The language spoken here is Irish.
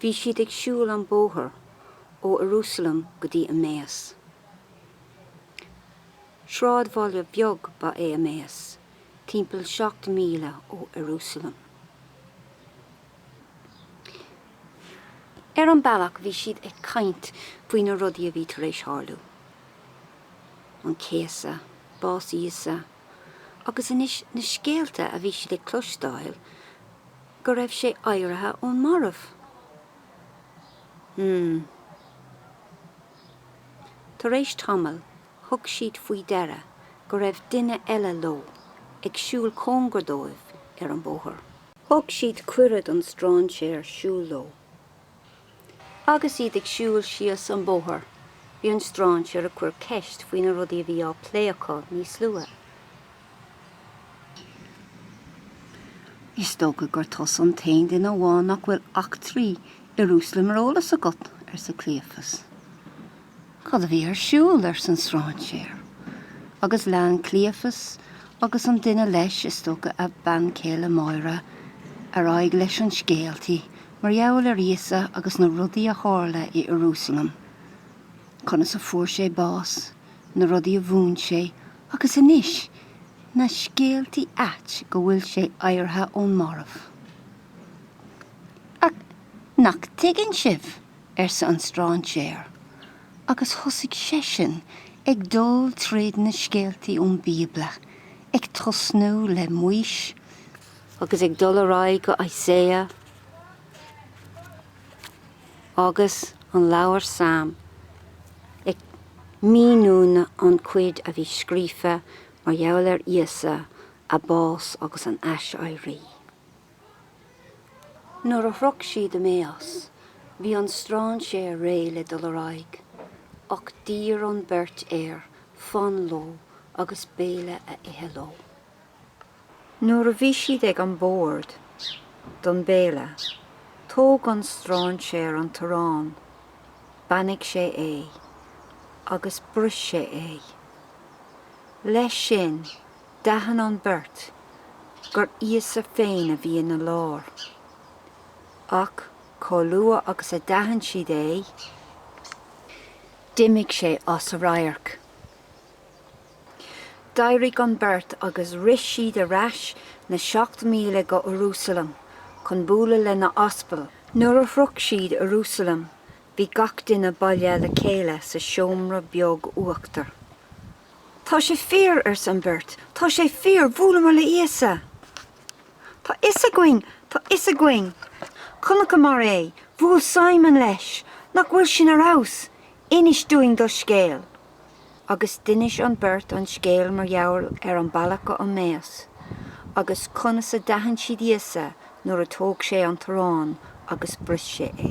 Bhí siad ag siúl an bóthar ó Ierúsalem go dtí Emmaus. Sráidbhaile bheag ba ea Emmaus, timpeall seacht míle ó Ierúsalem. Ar an bealach bhí siad ag caint faoi na rudaí a bhí tar éis tharlú, an céasadh, bás Íosa, agus anois na scéalta a bhí siad ag cloisteáil go raibh sé éirithe ón marbh. Hmm. Tar éis tamaill, thug siad faoi deara go raibh duine eile leo ag siúl cóngarach dóibh ar an bóthar. Thug siad cuireadh don stráinséar siúl leo. Agus iad ag siúl síos an bóthar, bhí an stráinséar ag cur ceist faoi na rudaí a bhí á plé acu níos luaithe. Is dócha gur tusa an t-aon duine amháin nach bhfuil eachtraí Ierúsaleim ar eolas agat, arsa Cleophas. Cad a bhí ar siúl arsa an stráinséar? Agus lean Cleophas agus an duine leis is dócha a bean chéile Máire ar aghaidh leis an scéaltaí mar gheall ar Íosa agus na rudaí a tharla i Ierúsalem, conas a fuair sé bás, na rudaí a mhúin sé, agus anois, na scéaltaí ait go bhfuil sé éirithe ón marbh. Ach nach dtuigeann sibh? arsa an stráinséar, agus thosaigh seisean ag dul tríd na scéaltaí ón Bíobla, ag tosnú le Maois, agus ag dul ar aghaidh go Isaiah, agus an leabhar Salm, ag míniú an chuid a bhí scríofa mar gheall ar Íosa, a bás agus an aiséirí. Nuair a shroich siad Emmaus bhí an stráinséar réidh le dul ar aghaidh ach d'iarr an beirt air fan leo agus béile a ithe leo. Nuair a bhí siad ag an bord don béile tóg an stráinséar an t-arán, beannaigh sé é agus bris sé é. Leis sin D'aithin an beirt gur Íosa féin a bhí ina lár. Ach chomh luath agus a d'aithin siad é, d'imigh sé as a radharc. D'éirigh an beirt agus rith siad ar ais na seacht míle go Ierúsalem chun bualadh le na haspail. Nuair a shroich siad Ierúsalem, bhí gach duine bailithe le chéile sa seomra beag uachtair. Tá sé fíor, arsa an bheirt. Tá sé fíor, bhuaileamar le Íosa. Tá fhios againn, tá fhios againn. Chonaiceamar é, bhuail Simon leis. Nach bhfuil sin ar fheabhas? Inis dúinn do scéal. Agus d'inis an beirt an scéal mar gheall ar an bealach go Emmaus agus conas a d'aithin siad Íosa nuair a thóg sé an t-arán agus bris sé é.